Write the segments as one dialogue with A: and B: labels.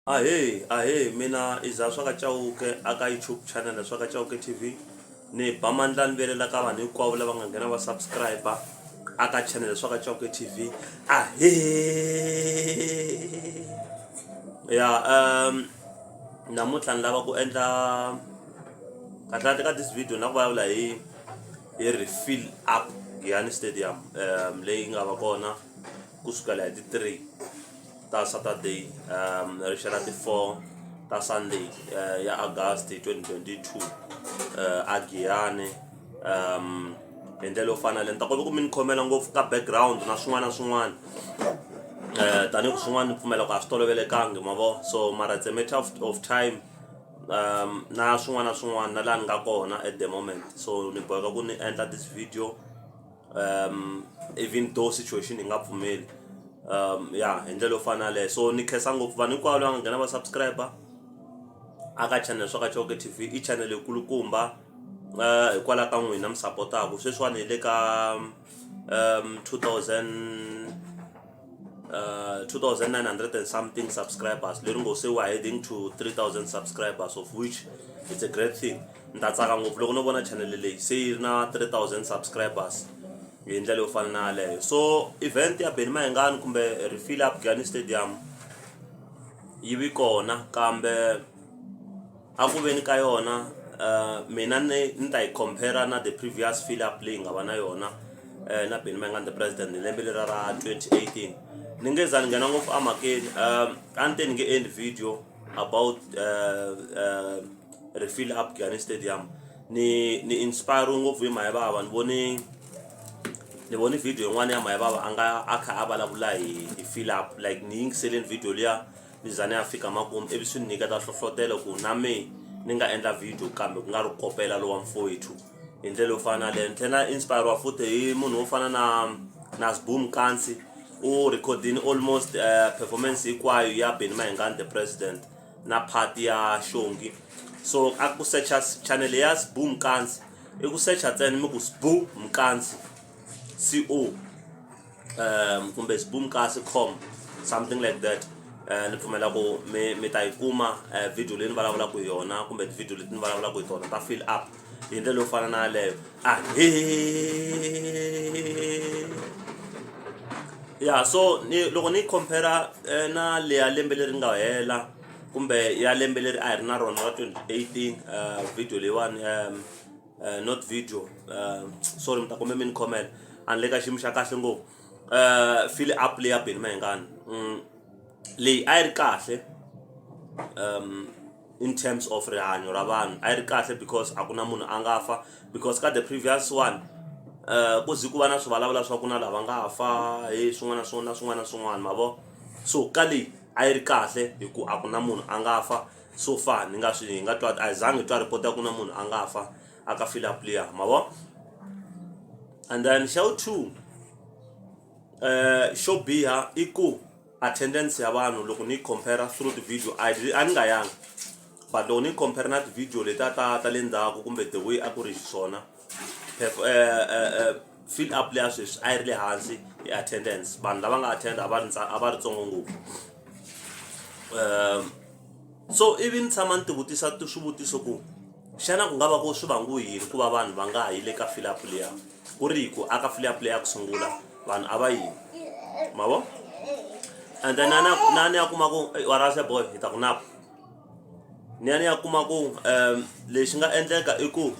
A: Ahee ahee mina i za swa ka Chauke a ka YouTube channel ya swa ka Chauke TV ni ba mandla ni vilela ka vanhu hinkwavo lava nga nghena va subscribe a ka channel ya swa ka Chauke TV ahee ya um namuntlha ni lava ku endla kahlekahle ka this video na ku vulavula hi hi refill up Giyani Stadium um leyi nga va kona ku sukela hi ti 3 ta saturday um ri xela ti 4 ta sunday uh, ya august 2022 uh, a giyane um hi ndlela yo fana le ni ta kota ku mi ni khomela ngopfu ka background na swin'wana na swin'wana um tanihi ku swin'wana ni pfumela ku a swi tolovelekangi ma vo so mara it's a matter of, of time um na swin'wana na swin'wana na laha ni nga kona at the moment so ni boheka ku ni endla this video um even though situation yi nga pfumeli um ya hi ndlela yo fana yaleyo so ni khensa ngopfu vanhu hinkwavo lava nga nghena va subscriber aka channel swa ka choke tv i channel yikulukumba uh, hikwalaho ka n'wina mi sapotaku sweswiwani hi le ka um 2000 uh, 2,900 and something subscribers leri ngo se wa heading to 3,000 subscribers of which it's a great thing ni ta tsaka ngopfu loko no vona channel leyi se yi ri na 3,000 subscribers hi ndlela yo fana na yaleyo so event ya beni mahengani kumbe refill up gani stadium yi vi kona kambe A ku veni ka yona mina ni ni ta yi compare na the previous fill up leyi nga va na yona na Benny Mayengani the president hi lembe leriya ra twenty eighteen ni nge za ni nghena ngopfu emhakeni a ni te ni nge endli video about refill up Giyani stadium ni ni inspire-we ngopfu hi Mhani Bava ni vone ni vone video yin'wana ya Mhani Bava a nga a kha a vulavula hi hi fill up like ni yingiseleni video liya. mizana ya fika makumu ivi swi ni nyiketa hlohlotelo ku na me ni nga endla video kambe ku nga ri kopela lowa mfowethu hi ndlela yo fana na leyo ni tlhela na inspiriwa futhi hi munhu wo fana na na sboom kansi u recordini almost uh, performance hinkwayo ya beni mahengani the president na part ya xongi so a ku secha channel ya sbu mkansi i ku secha ntsena mi ku sbu mkansi co um kumbe sboom kasi com something like that um ni pfumela ku mi mi ta yi kuma um video leyi ni vulavulaka hi yona kumbe tivhidiyo leti ni vulavulaka hi tona ta fill up hi ndlela yo fana na yaleyo ahe ya so ni loko ni yi compara eh, na leya lembe leri nga hela kumbe ya lembe leri a hi ri na rona ra 2018 um video leyiwani um uh, not video uh, sorry mi ta kombe mi ni khomela a ni le ka xiyimo xa kahle ngopfu uh, file up leyi ya beni mahengani mm, leyi a yi ri kahle um, in terms of rihanyo ra vanhu a yi ri kahle because a ku na munhu a nga fa because ka the previous one um ku zi ku va na swi vulavula swa ku na lava nga fa hi swin'wana swin'wana na swin'wana na swin'wana ma vo so ka leyi a yi ri kahle hi ku a ku na munhu a nga fa so far ni nga swi hi nga twa a hi zangi hi twa report ya ku na munhu a nga fa a ka file apliya ma vo and then show two eh xo biha i ku attendance ya vanhu loko ni yi compare through the video a yi- a ni nga yanga but loko ni yi compare na ti-video letiya ta ta le ndzhaku kumbe the way a ku ri xiswona fill up leya sweswi a yi ri le hansi hi attendance vanhu lava nga attenda a va ri a va ri tsongo ngopfu um so ivi ni tshama ni tivutisa swivutiso ku xana ku nga va ku swi vangu yini ku va vanhu va nga ha yi le ka fill up leya ku ri hi ku aka fill up leya ku sungula vanhu a va yini mavo and then na ni ya kuma ku warase boy hi ta ku napa Ni ya ni ya kuma ku lexi nga endleka i ku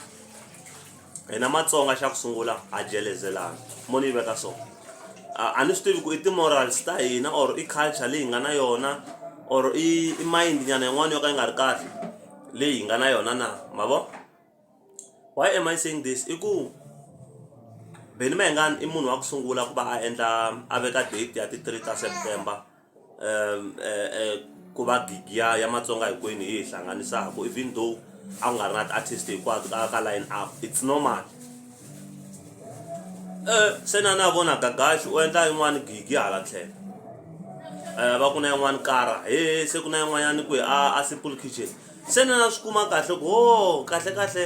A: hina matsonga xa ku sungula ha jelezelana mo ni yi veka so a ni swi tivi ku i ti-morals ta hina or i culture leyi hi nga na yona or i i mind nyana yin'wana yo ka yi nga ri kahle leyi hi nga na yona na ma vo why am I saying this i ku Benny Mayengani i munhu wa ku sungula ku va a endla a veka date ya ti-three ta September. ku va gigi ya ya matsonga hinkwenu hi yi hlanganisaka even though a ku nga ri na ti-artist hinkwato ka ka line up it's normal se na na vona gagaxi u endla yin'wani gigi hala tlhelo va ku na yin'wani kara he se ku na yin'wanyani kwihi a a simple kitchen se na na swi kuma kahle ku ho kahle kahle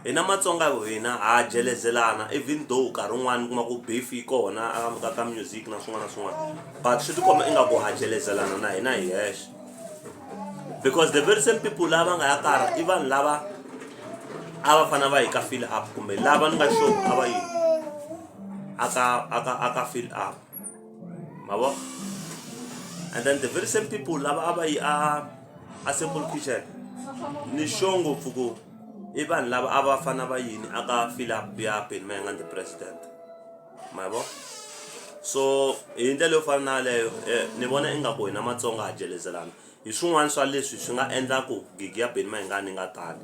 A: Hina matsonga hina ha jelezelana even though nkarhi wun'wani kuma ku beef yi kona a ka ka music na swin'wana na swin'wana but swi ti komba ingaku ha jelezelana na hina hi hexe because the very same people lava nga ya karha i vanhu lava a va fanele va hi ka fill up kumbe lava ni nga sure a va yi aka aka aka fill up. ma vo and then the very same people lava a va yi a a simple kitchen ni sure ngopfu ku i vanhu lava a va fana va yini aka philip biapin ma yanga the president ma vo so hi ndlela yo fana na yaleyo eh, ni vona ingaku hina matsonga ha jelezelana hi swin'wana swa leswi swi nga endlaku gigi ya beni ma hi nga ni nga tani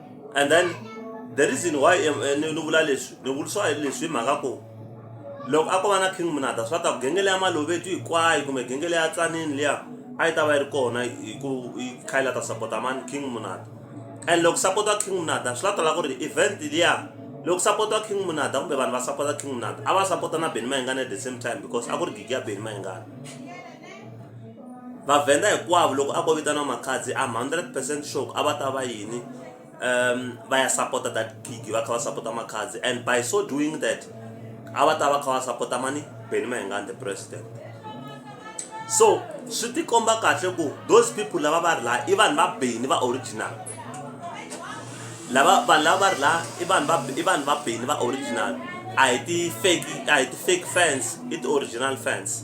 A: and then the reason why eh, ni vula leswi ni vulisiwa hi leswi hi mhaka ku loko a ko va na king munata swa ta ku genge leya malovetu hinkwayo kumbe genge leya tsanini liya a yi ta va yi ri kona hi ku yi kha yi la ta sapota mani king munata and loko sapota king munata swi la tala ku ri event liya loko sapota king munata kumbe vanhu va sapota king munata a va sapota na beni mayingana at the same time because a ku ri gigi ya beni mayingana Vavhenda hinkwavo loko a ko vitana Makhadzi I'm hundred percent sure ku a va ta va yini va ya sapota that gig va kha va sapota Makhadzi and by so doing that a va ta va kha va sapota mani Benny Mayengani the president so swi tikomba kahle ku those people lava va ri laha i vanhu va Benny va original lava vanhu lava va ri laha i vanhu va i vanhu va Benny va original a hi ti fake a hi ti fake fans i ti original fans.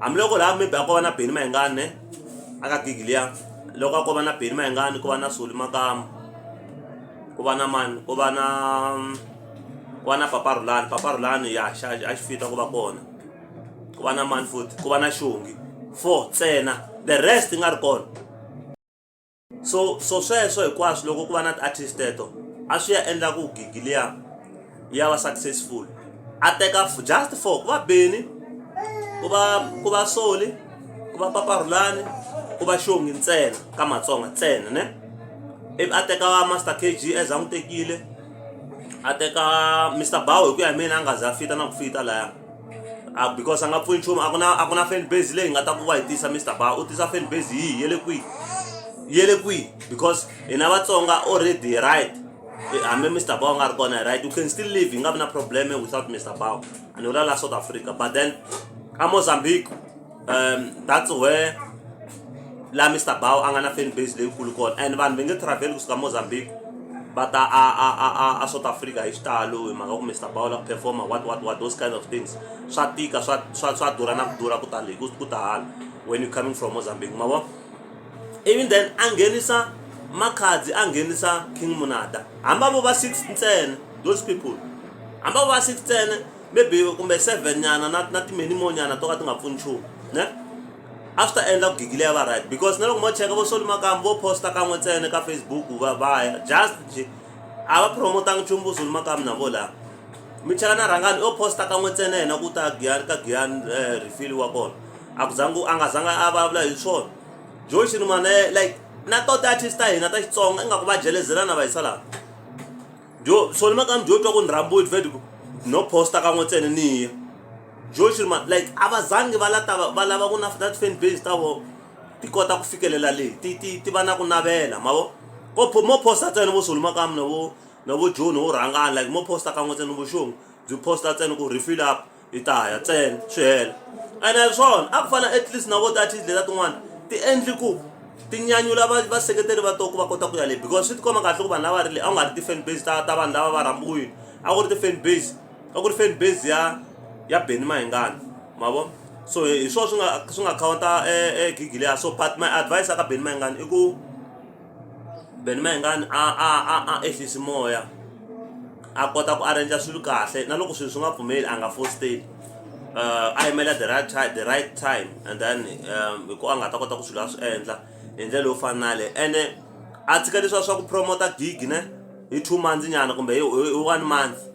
A: Hambiloko laha maybe a ko va na Benny Mayengani ne a ka gig liya loko a ko va na Benny Mayengani ku va na Solly Makamu ku va na mani ku va na ku va na Papa Rhulani Papa Rhulani ya xa a xi fit a ku va kona ku va na mani futhi ku va na Xongi four ntsena the rest yi nga ri kona. so so sweswo hinkwaswo loko ku va na ti-artist teto a swi ya endla ku gigi liya ya va successful a teka just for ku va beni ku va ku va soli ku va paparhulani ku va xongi ntsena ka matsonga ntsena ne ivi a teka va master kg as a n'wi tekile a teka mr bow hi ku ya hi mina a nga za a fita na ku fita laya a because a nga pfuni nchumu a ku na a ku na fan base leyi nga ta ku va hi tisa Mister Bauer u tisa fan base yihi ya le kwihi ya le kwihi because hina Vatsonga already right hambi Mister Bauer nga ri kona right you can still live hi nga vi na problem without Mister Bauer and without la South Africa but then a Mozambique. um that's where laha Mister Bow a nga na fan base leyikulu kona and vanhu va nge travel kusuka Mozambique va ta a a a a a South Africa hi xitalo hi mhaka ku Mister Bow la ku performer what what what those kind of things swa tika swa swa swa durha na ku durha ku tani ku ku ta hala when you coming from Mozambique ma vo even then a nghenisa makhadzi a nghenisa King Munada hamba vo va six ntsena those people hamba vo va six ntsena maybe kumbe seven nyana na na ti-many more nyana to ka ti nga pfuni nchumu ne a swi ta endla ku gigi leyi ya va right because na loko mo cheka vo soli makambu vo posta kan'we ntsena ka facebook va va ya just nje a va promotanga nchumu vo soli makambu na vo laha mi cheka na rhangani o posta kan'we ntsena yena ku ta giyani ka giyani um refili wa kona a ku zangi a nga zanga a vulavula hi swona joe xirima na ye like na to ti-artist ta hina ta xitsonga ingaku va jelezelana va yisa laha jo so ni makani jo twa ku ni rhambiwe ni fed ku no posta kan'we ntsena ni ya jo xi ri ma like a va zangi va lava va lava ku na na ti-fan base ta vona ti kota ku fikelela leyi ti ti ti va na ku navela ma vo ko mo posta ntsena vo soli makaya mina vo na vo joni wo rhangana like mo posta kan'we ntsena ni vo xingu byi posta ntsena ku refill up. yi ta ya ntsena swi hela ene hi swona a ku fana at least na vo ti-artist leta tin'wana ti endli ku ti nyanyula va vaseketeri va to ku va kota ku ya le because swi tikomba kahle ku vanhu lava ri le a ku nga ri ti-fan base ta ta vanhu lava va rhambiwile a ku ri ti-fan base a ku ri fan base ya ya Benny Mayengani ma vo so hi swona swi nga swi nga khawunta e gigi leya so but my advice eka Benny Mayengani i ku Benny Mayengani a a a a ehlisi moya. a kota ku arranger swilo kahle na loko swilo swi nga pfumeli a nga fositeli a yimela the right time the right time and then um, hi ku a nga ta kota ku swilo a swi endla hi ndlela yo fana na le ene a tshika leswiwa swa ku promota gig ne hi two months nyana kumbe hi one month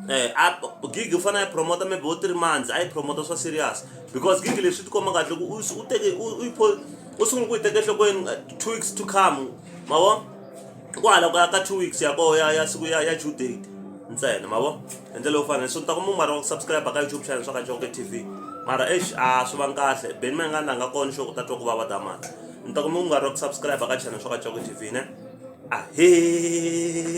A: Eh, gig u fanele a yi promota maybe wo three months a yi promota swa serious because gig leswi ti komba kahle ku u teke u sungula ku yi teka enhlokweni eh, two weeks to come ma vona I ku hala ka ka two weeks ya koho ya ya siku ya ya due date ntsena ma vo hi ndlela yo fana so ni ta ku mumari wa ku subscribe ka youtube channel swa ka jonke tv mara exi a swi vangi kahle beni ma nga langa kona xo ku ta twa ku vava damana ni ta ku mumari wa ku subscribe ka channel swa ka jonke tv ne ahee